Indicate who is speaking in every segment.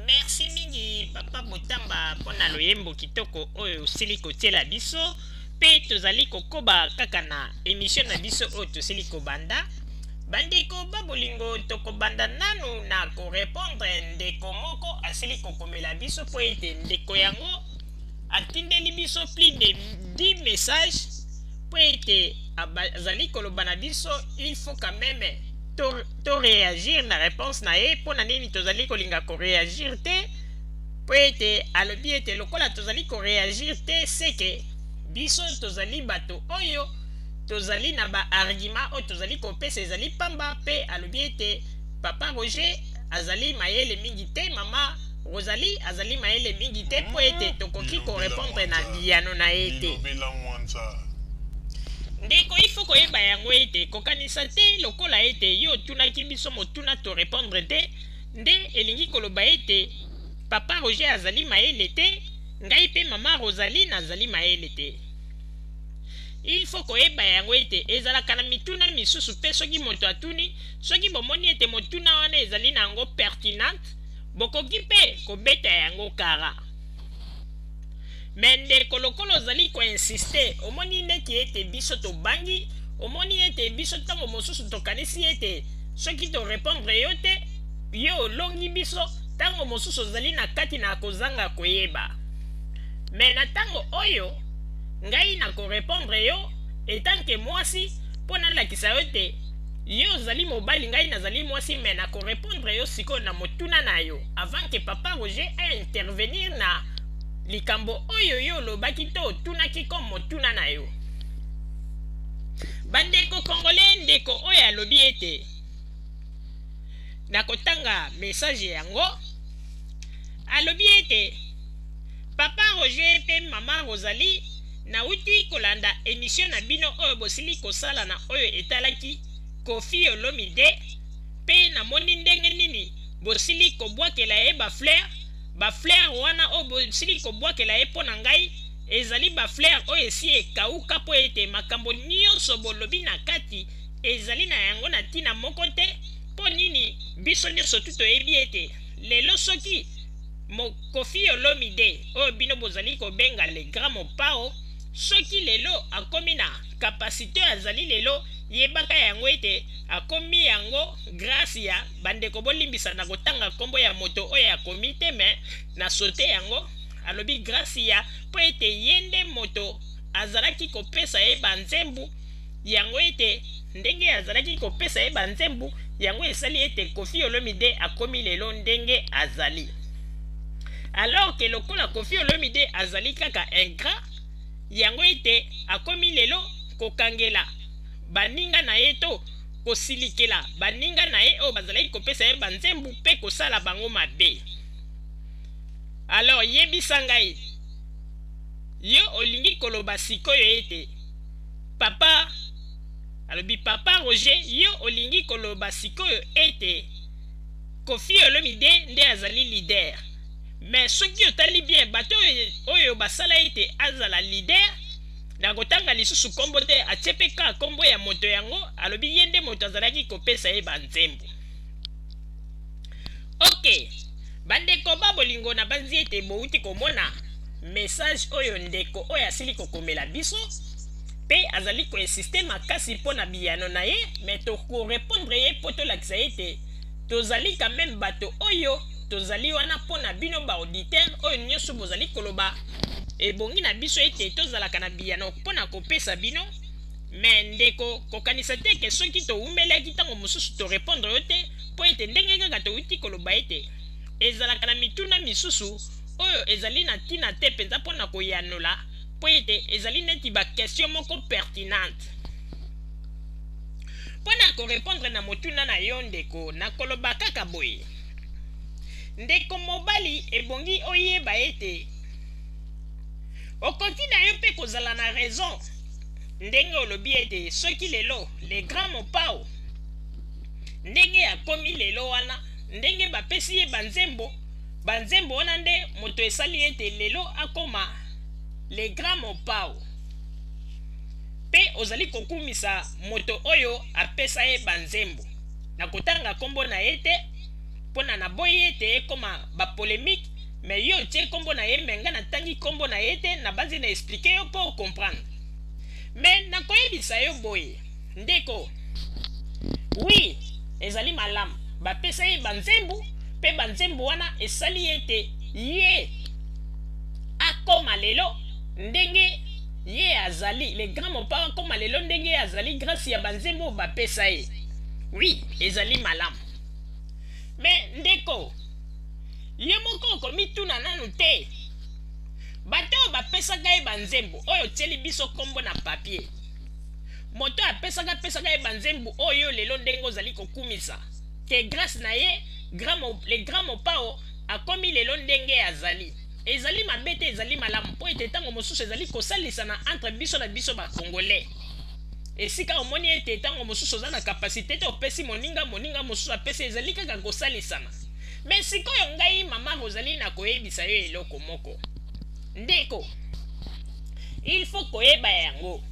Speaker 1: merci mingi papa botamba mpo na loyembo kitoko oyo osili kotiela biso mpe tozali kokoba kaka na emisio na biso oyo tosili kobanda bandeko babolingo tokobanda nanu na korepondre ndeko moko asili kokomela biso mpo ete ndeko yango atindeli biso plus de 10 message mpo ete azali koloba na biso il faut quand même toreagir na réponse na ye mpo na nini tozali kolinga koreagir te mpo ete alobi ete lokola tozali koreagir te seke biso tozali bato oyo tozali na baargument oyo tozali kopesa ezali mpamba mpe alobi ete papa roger azali mayele mingi te mama Rosalie azali mayele mingi te mpo ete tokoki ko repondre na biyano na ye te. Ndeko, il faut koyeba yango ete kokanisa te lokola ete yo otunaki biso motuna to repondre te nde elingi koloba ete Papa Roger azali mayele te, ngai mpe Mama Rosalie nazali mayele te. Il faut koyeba yango ete ezalaka na mituna misusu mpe soki moto atuni, soki bomoni ete motuna wana ezali na yango pertinente, Bokoki mpe kobeta yango kara. Mais ndeko lokola ozali ko insiste, omoni neti ete biso tobangi, omoni ete biso tango mosusu tokanisi ete soki to repondre yo te, yo olongi biso, tango mosusu ozali na kati na kozanga koyeba. Mais na tango oyo, ngai nako repondre yo etant que mwasi mpo nalakisa yo ete, Yo ozali mobali ngai nazali mwasi mais na ko repondre yo sikoyo na motuna na yo avant que papa Roger a intervenir na likambo oyo yo olobaki to otunaki comme motuna na yo. Bandeko congolais ndeko oyo alobi ete nakotanga message yango alobi ete papa roger mpe mama rosalie Nawuti kolanda emission na bino oyo bosili kosala na oyo etalaki Koffi Olomide pe namoni ndenge nini bosili kobwakela ye ba fleur ba fleur wana oyo bosili kobwakela ye mpo na ngai ezali ba fleur oyo esi ekauka mpo ete makambo nyonso bolobi na kati ezali na yango na ntina moko te mpo nini biso nyonso tu toyebi ete lelo soki Kofi Olomide oyo bino bozali kobenga le grand Mopao soki lelo akomi na kapasite oyo azali lelo yebaka yango ete akomi yango grâce ya bandeko bolimbisa na kotanga nkombo ya moto oyo akomi te me na sote yango alobi grâce ya mpo ete ye nde moto azalaki kopesa ye banzembu yango ete ndenge azalaki kopesa ye banzembu yango esali ete kofi olomide akomi lelo ndenge azali alors ke lokola kofi olomide azali kaka ingrat yango ete akomi lelo kokangela baninga na ye to kosilikela baninga na ye oyo bazalaki kopesa ye banzembu mpe kosala bango mabe alors yebisa ngai yo olingi koloba sikoyo ete papa alobi papa roger yo olingi koloba sikoyo ete kofi olomide nde azali lider me soki otali bien bato oyo basala ete azala lider na kotanga lisusu nkombo te atie mpe kaka nkombo ya moto yango alobi ye nde moto azalaki kopesa ye banzembo Ok, bandeko ba bolingo nabanzi ete bowuti komona message oyo ndeko oyo asili kokomela biso pe azali ko insiste makasi mpo na biyano na ye me toko repondre ye mpo tolakisa ye ete tozali quand meme bato oyo tozali wana mpo na bino ba auditeur oyo nyonso bozali koloba ebongi na biso ete tozalaka na biyano mpo na kopesa bino me ndeko kokanisa te ke soki towumelaki ntango mosusu torepondre yo te Mpo ete ndenge kaka touti koloba ete ezalaka na mituna misusu oyo ezali na ntina te mpenza mpo na koyanola, mpo ete ezali neti bakestio moko pertinente. Mpo na korepondre na motuna na yo, ndeko, nakoloba kaka boye, Ndeko mobali, ebongi oyeba ete okoki na yo mpe kozala na raison ndenge olobi ete soki lelo le grand Mopao ndenge akomi lelo wana ndenge bapesi ye banzembo banzembo wana nde moto esali ete lelo akoma le grand mopao mpe ozali kokumisa moto oyo apesa ye banzembo na kotanga nkombo na ye te mpona naboyi ete ekoma bapolemike me yo otie nkombo na ye me ngai natangi nkombo na ye te nabanzi na esplike yo mpo okomprendre me nakoyebisa yo boye Ndeko, oui, ezali malamu. Bapesa ye banzembo, pe banzembo wana esali ye ete ye akoma lelo ndenge ye azali. Le grand Mopao akoma lelo ndenge ye azali grâce ya banzembo bapesa ye. Oui, ezali malamu. Mais ndeko, yo moko okomituna nanu te? Bato oyo bapesaka ye banzembo, oyo otieli biso kombo na papier, moto oyo apesaka apesaka ye banzembo oyo lelo ndenge ozali kokumisa ke grâce na ye le grand mopao akomi lelo ndenge azali ezali mabe te ezali malamu mpo ete ntango mosusu ezali kosalisana entre biso na biso bacongolais esika omoni ete ntango mosusu oza na kapasite te opesi moninga moninga mosusu apesi ezali kaka kosalisana me sikoyo ngai mama ozali na koyebisa yo eloko moko ndeko il faut koyeba yango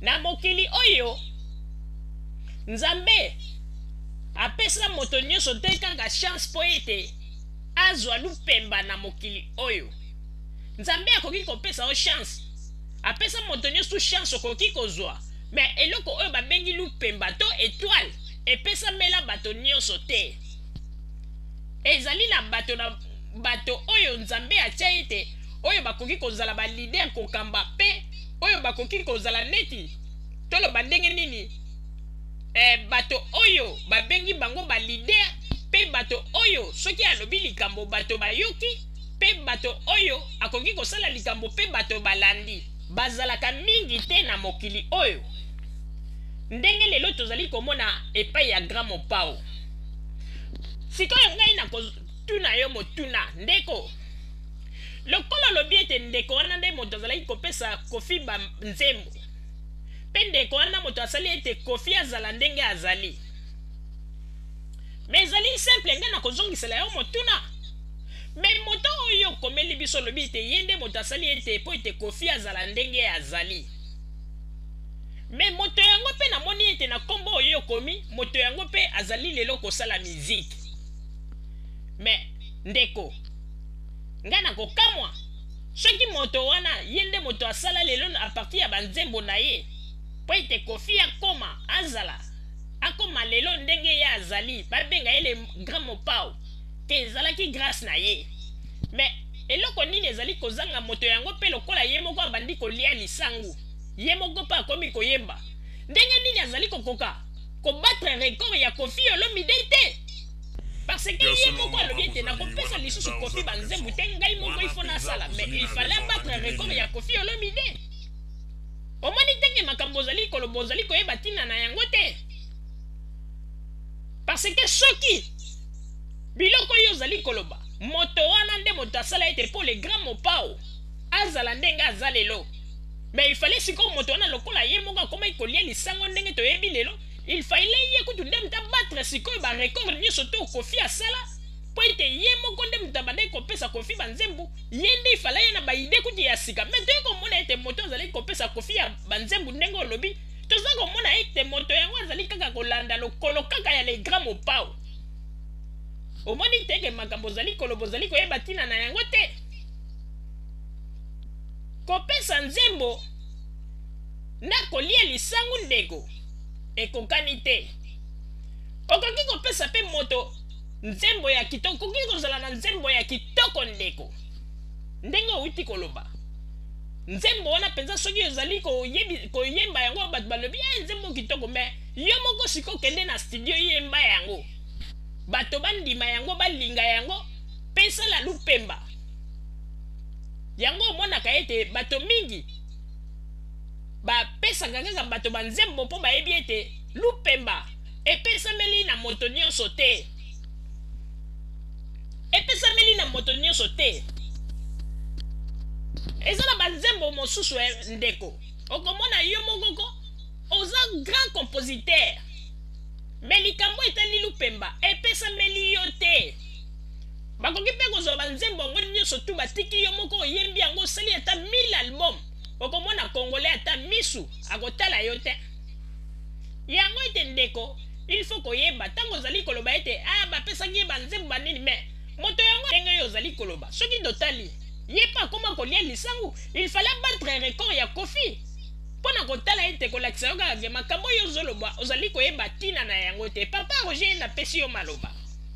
Speaker 1: na mokili oyo nzambe apesa moto nyonso te kaka chance mpo ete azwa lupemba na mokili oyo nzambe akoki kopesa yo chance apesa moto nyonso chance okoki kozwa me eloko oyo babengi lupemba to etoile epesamela bato nyonso te ezali na bato na bato oyo Nzambe atya ete oyo bakoki kozala ba leader kokamba pe oyo bakoki kozala neti toloba ndenge nini eh, bato oyo babengi bango ba leader pe bato oyo soki alobi likambo bato bayoki pe bato oyo akoki kosala likambo pe bato balandi bazalaka mingi te na mokili oyo ndenge lelo tozali komona epai ya grand mopao sikoyo ngai Tuna yo motuna ndeko. Lokola olobi ete ndeko wana nde moto azalaki kopesa Kofi ba nzembo mpe ndeko wana moto asali ete Kofi azala ndenge azali, me ezali simple ngai nakozongisela yo motuna me moto oyo okomeli biso olobi ete ye nde moto asali ete mpo ete Kofi azala ndenge azali me moto yango mpe namoni ete na nkombo oyo okomi moto yango mpe azali lelo kosala miziki me ndeko ngai nakokamwa soki moto wana ye nde moto asala lelo a partir ya banzembo na ye mpo ete kofi akoma azala akoma lelo ndenge ye azali babenga ye le grand mopao te ezalaki grâce na ye mais eloko nini ezali kozanga moto yango mpe lokola ye moko abandi kolia lisangu ye moko mpe akomi koyemba ndenge nini azali kokoka ko battre record ya Koffi Olomide te parce que ye moko alobi ete nakopesa lisusu kofi banzembu te ngai moko ifo nasala mais il fallait abattre record ya kofi olomide omoni ndenge makambo ozali koloba ozali koyeba ntina na yango te parce que soki biloko oyo ozali koloba moto wana nde moto asala ete mpo le grand mopao azala ndenge aza lelo Mais il fallait sikoyo moto wana lokola ye moko akomaki kolia lisango ndenge toyebi lelo, il fallait ye kutu nde moto abattre sikoyo ba record nyonso to Koffi asala mpo ete ye moko nde moto abandaki kopesa Koffi ba nzembo, ye nde il fallait aya na ba idee kutu ya sika. Mais toye komona ete moto azalaki kopesa Koffi ya ba nzembo ndenge olobi, toza komona ete moto yango azali kaka kolanda lokolo kaka ya le grand Mopao. Omoni te ke makambo ozali koloba ozali koyeba tina na yango te? Kopesa nzembo na kolia lisangu ndeko ekokani te. Okoki kopesa pe moto nzembo ya kitoko, okoki kozala na nzembo ya kitoko ndeko. Ndenge owuti koloba. Nzembo wana penza soki ozali koyemba yango bato balobi eh nzembo kitoko mais yo moko siko kende na studio yemba yango. Bato bandima yango, balinga yango pe sala lupemba. Yango omonaka ete bato mingi bapesaka kaka bato banzembo mpo bayebi ete lupemba epesameli na moto nyonso te. Epesameli na moto nyonso te. Eza na banzembo mosusu eh, ndeko okomona yo mokoko oza grand compositeur me likambo etali lupemba epesameli yo te bakoki mpe kozwa banzembo yango nyonso tu batiki yo moko oyembi yango osali ata 1000 album okomona kongole ata misu akotala yo te yango ete ndeko il faut koyeba ntango ozali koloba ete a ah, bapesaki ye banzembo banini me moto yango ndenge yo ozali koloba soki totali ye mpe akoma kolia lisangu il fale abatre record ya kofi mpo na kotala ete kolakisa yo kaka ke makambo oyo ozoloba ozali koyeba ntina na yango te papa roger napesi yo maloba